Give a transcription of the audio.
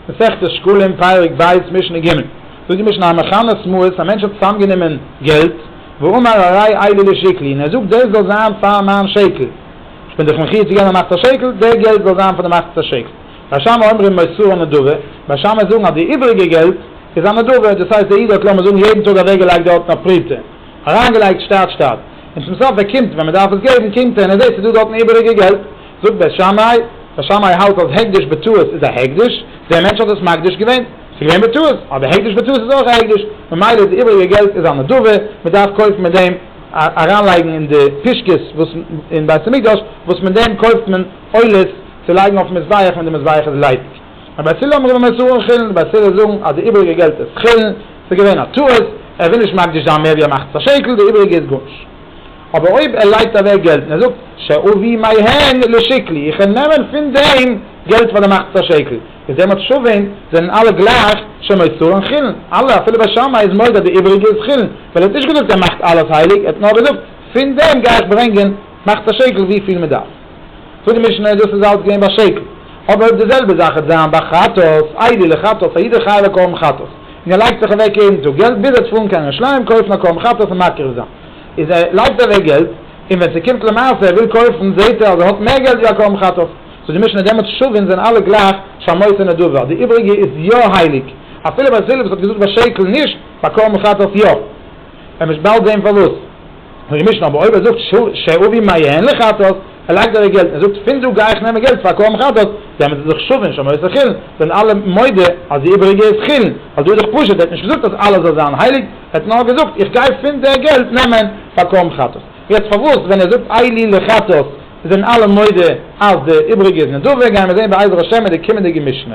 מסכת שקלים פרק ב' משנה ג' זאגט די משנה המכנה שמועס א מענטש האט צוזאם גענומען געלט ואמר הרי איילי לשקלי און ער זאגט דאס זאל זיין פאר מיין שקל איך בין דיך מחיוב צו געבן א מחצית שקל די געלט זאל זיין פון די מחצית שקל בית שמאי אומרים מסורה נדבה בית שמאי זאגן אז די איבריגע געלט איז א נדבה דאס הייסט דער איד האט לאמיר זאגן יעדן טאג אוועק געלייגט דארטן אויף פרוטה אריין געלייגט שטאט שטאט און צום סוף ער קומט ווען מען דארף עס געבן קומט ער און ער זעט ס'איז דא דארטן איבריגע געלט זאגט בית שמאי, בית שמאי האלט אז הקדש בטעות איז א הקדש, דער מענטש האט עס מקדיש געווען, עס איז געווען בטעות, אבער הקדש בטעות איז אויך א הקדש, ממילא איז די איבעריגע געלט איז א נדבה, מען דארף קויפן מיט דעם אריינלייגן אין די פישקעס וואס אין בית המקדש, וואס מיט דעם קויפט מען עולות צו לייגן אויפן מזבח ווען די מזבח איז ליידיג. און בית הלל אומרים עס אן חולין, די בית הלל זאגן אז די איבעריגע געלט איז חולין, עס איז געווען א טעות, ער וויל נישט מקדיש זיין מער ווי א מחצית השקל, די איבעריגע איז גארנישט. אבער אויב ער לייגט אוועק געלט און ער זאגט שאובי מהן לשקלי, איך וועל נעמען פון דעם געלט פאר די מחצית השקל, איז דעמאלט שווים זענען אלע גלייך שמות צור און חילן, אלע אפילו בית שמאי איז מודה אז די איבעריגע איז חילן, ווייל ער האט נישט געזאגט ער מאכט אלעס הייליג, ער האט נאר געזאגט פון דעם גיי איך ברענגען מחצית השקל וויפיל מען דארף. זאגט די משנה דאס איז אלץ געווען ביי שקל, אבער אויב די זעלבע זאך וועט זיין ביי חטאת, איידי לחטאת, א איד איז חייב א קרבן חטאת, און ער לייגט זיך אוועק יעדן טאג געלט ביז ער האט פארן קיין ירושלים קויפן א קרבן חטאת און מקריב זיין. איז ער לייגט אוועק געלט, און ווען ס'קומט למעשה ער וויל קויפן זעהט ער אז ער האט מער געלט ווי א קרבן חטאת, זאגט די משנה דעמאלטס שווין זענען אלע גלייך שמות אין נדבה, די איבריגע איז יא הייליג, אפילו ביי פיליפס האט געזאגט ביי שקל נישט, ביי קרבן חטאת יא, ער מוז באלד זעהן פארוואס, זאגט די משנה אבער אויב ער זאגט שאובי מעיין לחטאת, ער לייגט אוועק געלט און ער זאגט פון דא גיי איך נעמען געלט פאר קרבן חטאת, דעמאלטס איז דאך שווין שמות אין חולין, זענען אלע מודה אז די איבריגע איז חולין, ווייל דא איז דאך פשוט ער האט נישט געזאגט אז אלעס זאל זיין הייליג, ער האט נאר געזאגט איך גיי פון די געלט נעמען פאר קרן חטאת. יעצט פארוואס ווען ער זאגט אי לי לחטאת זענען אלע מודה אז די איבריגע איז נדבה, גייען מיר זעהן בעזר השם אין די קומענדיגע משנה.